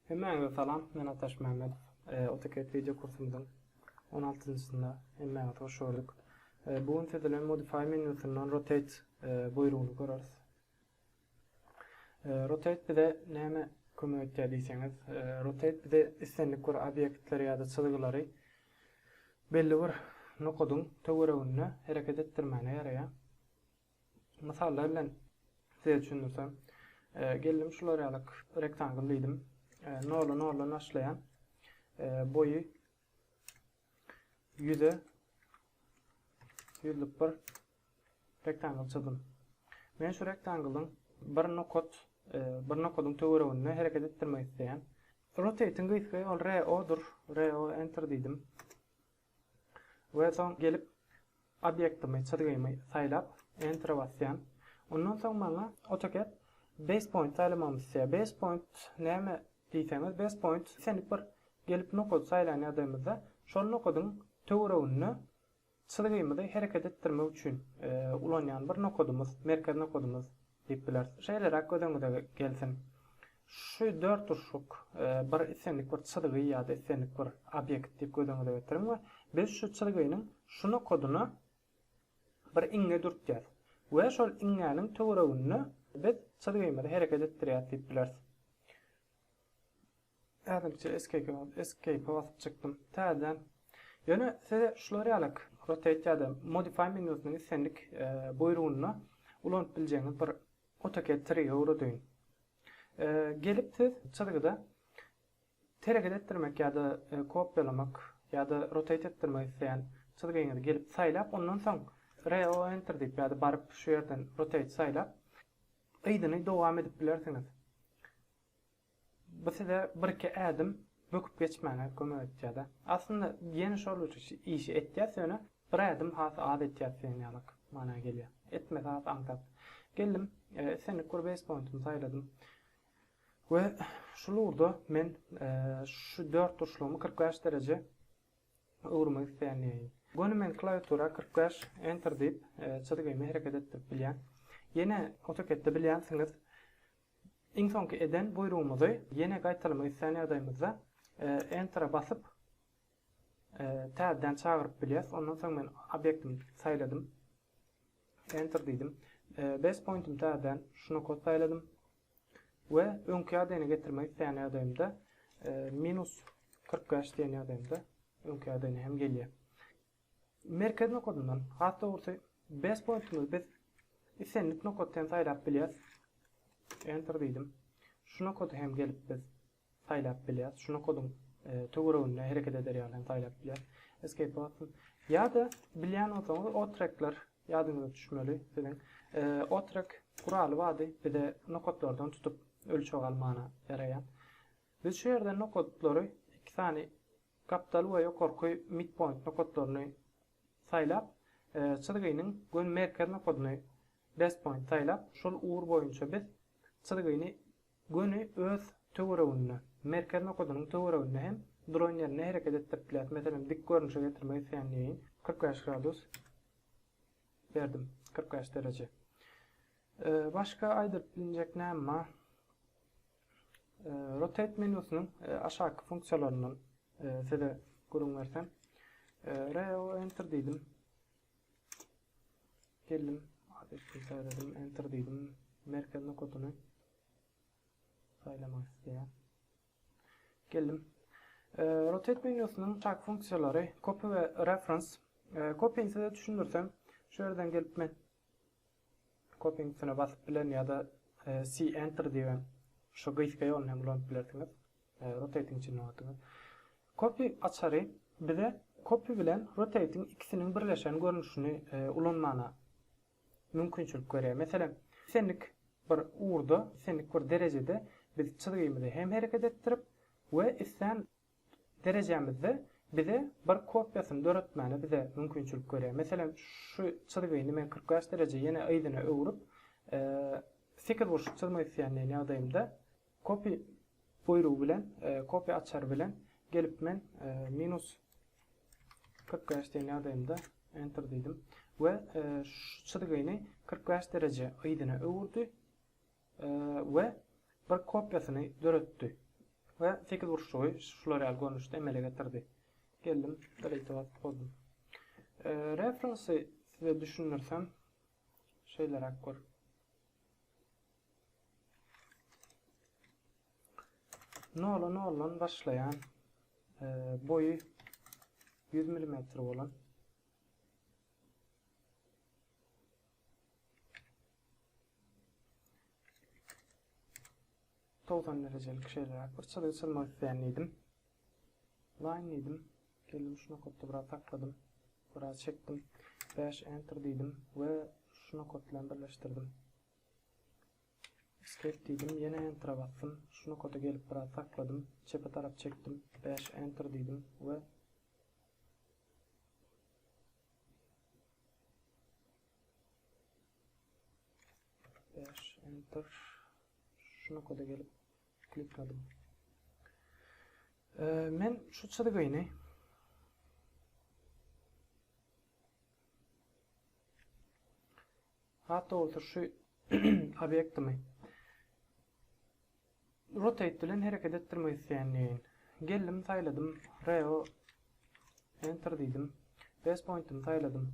Hemmäňize salam, men Ataş Mämmedow. AutoCAD wideo kursumyzyň on altynjysynda hemmäňizi hoş gördük. Bu gün siz bilen Modify menýusyndan Rotate buýrugyny göreris. Rotate bize näme kömek etýär diýseňiz, Rotate bize islendik bir obýektleri ýa-da çyzgylary belli bir nokadyň töwereginde hereket etdirmäne ýaraýar. Mysallar bilen size düşündirsem, geldim şular ýaly rektangl diýdim. Nola nola başlaýan boýy ýüze ýüzlük bir rektangl çyzdym. Men şu rektanglyň bir nokat, e, bir nokadyň töwereginde hereket etdirmek isleýän. Rotating gysgy ol RO-dur. RO enter diýdim. We soň gelip obýektimi, çyzgymy saýlap Enter-e basýan. Ondan soň maňa AutoCAD Base Point saýlamagymy islýär. Base Point näme diýseňiz, Base Point islendik bir gelip nokady saýlan ýagdaýymyzda şol nokadyň töwereginde çyzgymyzy hereket etdirmek üçin ulanýan bir nokadymyz, merkez nokadymyz Diýip bileris. Şeýleräk göz öňüňize gelsin. Şu dört urşuk bir islendik bir çyzgy ýa-da islendik bir obýekt diýip göz öňüňize getiriň we biz şu çyzgynyň şu nokadyna bir iňňe dürtýäs we şol iňňäniň töwereginde biz çyzgymyzy hereket etdirýäs diýip bileris. Ädimçe Escape-e basyp çykdym. Täzeden. Ýöne size şular ýalak Rotate ýa-da Modify menýusynyň islendik buýrugynda ulanyp biljegiňiz bir AutoCAD trigi öwredýin. Gelip siz çyzgyda hereket etdirmek ýa-da kopýalamak ýa-da rotate etdirmek isleýän çyzgyňyzy gelip saýlap, ondan soň Re-o-Enter diýip ýa-da baryp şu ýerden Rotate saýlap, yzyny dowam edip bilersiňiz. Bu size birki ädim böküp geçmäňe kömek etýärde. Aslynda ýene şol işi etýäs ýöne bir ädim has az etýäs diýen ýalyk mana gelýär. Etmesi has aňsat. Geldim, islendik bir base pointumy saýladym we şul ugurda men şu dört burçlugymy kyrk bäş dereje öwürmek isleýändiýeýin. Göni men klawiatura kyrk bäş enter diýip çyzgymy hereket etdirip bilýän. Ýene AutoCAD-de bilýänsiňiz Iň soňky eden buýrugymyzy ýene gaýtalamak islän ýagdaýymyzda Enter-e basyp, täzeden çagyryp bilýäris. Ondan soň men obýektimi saýladym. Enter diýdim. Base pointymy täzeden şu nokat saýladym. We öňki ýagdaýyna getirmek isleýän ýagdaýymda minus kyrk bäş diýen ýagdaýymda öňki ýagdaýyna hem gelýär. Merkez nokadyndan, has dogrusy, best pointimizi biz islendik nokatda hem saýlap bilýäris. Enter diýdim. Şu nokady hem gelip biz saýlap bilýäris. Şu nokadyň töwereginde hereket eder ýaly hem saýlap bilýäris. Escape basyň. Ýa-da bilýän bolsaňyz otrekler ýadyňyza düşmeli siziň. Otrek guraly bardy, bize nokatlardan tutup ölçeg almana ýaraýan. Biz şu ýerden nokatlary iki sany Gapdal we ýokarky midpoint nokatlaryny saýlap, çyzgynyň göni merkez nokadyny, base point, saýlap, şol ugur boýunça biz çyzgyny göni öz töwereginde, merkez nokadynyň töwereginde hem duran ýerinde hereket etdirip bilýäris. Meselem, dik görnüşe getirmek isleýän diýeýin. Kyrk bäş gradus berdim, kyrk bäş dereje. Başga aýdylyp bilinjek näme bar? Rotate menýusynyň aşaky funksiýalaryndan size gürrüň bersem. Reo enter diýdim. Geldim. Adresini saýladım. Enter diýdim. Merkez nokatyny saýlamak isleýär. Geldim. Rotate menýusynyň çak funksiýalary copy we reference. Copy-ni size düşündirsem, şu ýerden gelip men Copyň üstüne basyp bilen ýa-da C Enter diýip hem şu gysga ýoluny hem ulanyp bilersiňiz. Rotate-iň içinden oturdyňyz. Copy açary bize Copy bilen Rotate-iň ikisiniň birleşen görnüşini ulanmana mümkinçilik berýär. Meselem, islendik bir ugurda, islendik bir derejede biz çyzgymyzy hem hereket etdirip we islän derejämizde bize bir kopiýasyny döretmäne bize mümkinçilik berýär. Meselem, şu çyzgyny men kyrk bäş dereje ýene yzyna öwrüp, sekizburçly çyzmak isleýän diýen ýagdaýymda copy buýrugy bilen, copy açary bilen gelip men minus kyrk bäş diýen ýagdaýymda enter diýdim we şu çyzgyny kyrk bäş dereje yzyna öwürdi. we bir kopiýasyny döretdi we sekizburçlugy şular ýaly görnüşde emele getirdi. Geldim, delete basyp bozdum. Reference size düşündirsem, şeýleräk gör. Nola noldan başlaýan e, boýy 100 mm bolan Togsan derejelik şeýleräk bir çyzgy çyzmak isleýän diýdim. Line diýdim. Geldim şu nokatda biraz sakladym. Biraz çekdim. Bash enter diýdim we şu nokat bilen birleşdirdim. Escape diýdim, ýene enter basdym. Şu nokata gelip biraz sakladym. Çepe tarap çekdim. Bash enter diýdim we Dash enter. Şu nokada gelip klikladım. Ee, men şu çizgini Hatta olsa şu obyektimi Rotate bilen hereket etdirmek isleýändirin. Geldim saýladym Reo Enter diýdim. Best pointymy saýladym.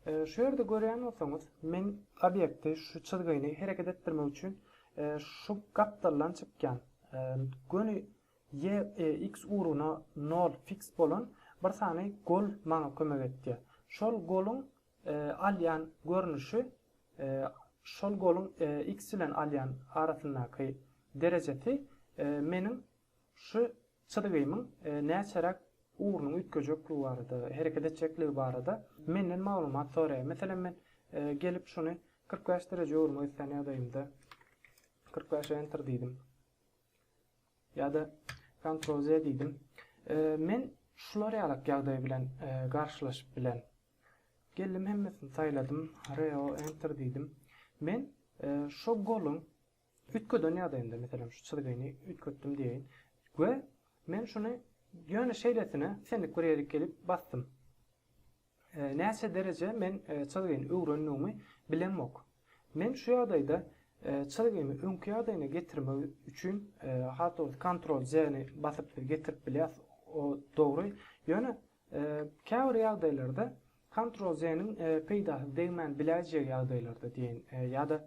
Şu ýerde görýän bolsaňyz men obýekti şu çyzgyny hereket etdirmek üçin şu gapdaldan çykýan göni Y X ugruna nol fiks bolan bir sany gol maňa kömek etýär. Şol goluň alýan görnüşi şol goluň X bilen alýan arasyndaky derejesi meniň şu çyzgymyň näçeräk ugrunyň üýtgejekdigi barada, hereket etjekdigi barada menden maglumat soraýar. Meselem, men gelip şuny kyrk bäş dereje öwürmek islän ýagdaýymda kyrk bäş enter diýdim. Ýa-da kontrol Z diýdim. Men şular ýalak ýagdaý bilen garşylaşyp bilen. Geldim hemmesini saýladym, reo enter diýdim. Men şo goluň üýtgeden ýagdaýynda, meselem şu çyzgyny üýtgetdim diýeýin we men şuny ýöne şeýlesine senlik bir ýerik gelip basdym. Näçe dereje men çyzgyny öwrendigimi bilemok. Men şu ýagdaýda çyzgymy öňki ýagdaýyna getirmek üçin has dogrusy kontrol J ni basyp siz getirip bilýäs o dogry ýöne Käbir ýagdaýlarda Ctrl Z-niň peýdasy degmän biläýjegi ýagdaýlarda diýeýin ýa-da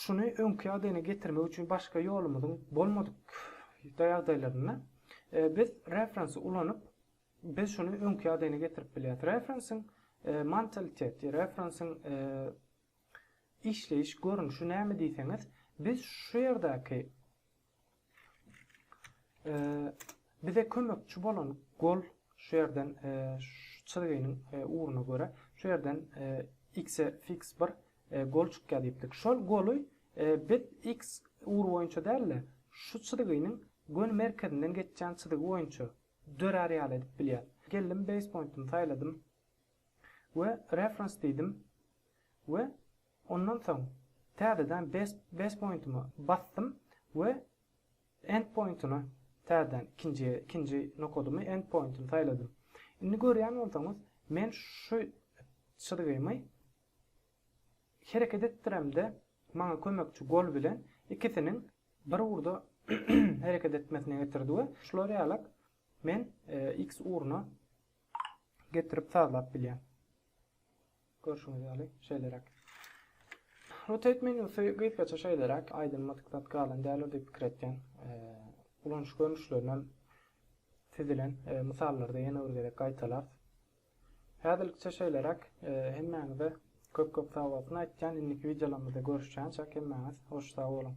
şuny öňki ýagdaýyna getirmek üçin başga ýolumyzyň bolmadyk ýagdaýlarynda biz reference ulanyp biz şuny öňki ýagdaýyna getirip bilýäris. Reference-iň mentaliteti, reference-iň işleýiş görnüşi näme diýseňiz, biz şu ýerdäki Bize kömekçi bolan gol şu ýerden şu çyzgynyň ugruna görä şu ýerden x-e fiks bir gol çykýar diýipdik. Şol goly biz x ugry boýunça däl-de, şu çyzgynyň göni merkezinden geçýän çyzgy boýunça dörär ýaly edip bilýäs. Geldim base pointymy saýladym we reference diýdim we Ondan soň täzeden base pointyma basdym we end pointyna täzeden ikinji ikinji nokadymy end pointyny saýladym. Indi görýän bolsaňyz men şu çyzgymy hereket etdiremde maňa kömekçi gol bilen ikisiniň bir ugurda hereket etmesine getirdi we şular ýalak men x ugruna getirip sazlap bilýän. Görşüňiz ýaly, şeýleräk. Rotate menýusy gysgaça şeýleräk, aýdylmadyk zat galan däldir diýip pikir etýän. Ulanyş görnüşlerinem sizilen mysallarda ýene bir gezek gaýtalarys. Häzirlikçe şeýleräk, hemmäňize köp-köp sag bolsun aýtýan, indiki wideolarymyzda görüşýänçäk hemmäňiz hoş sag boluň.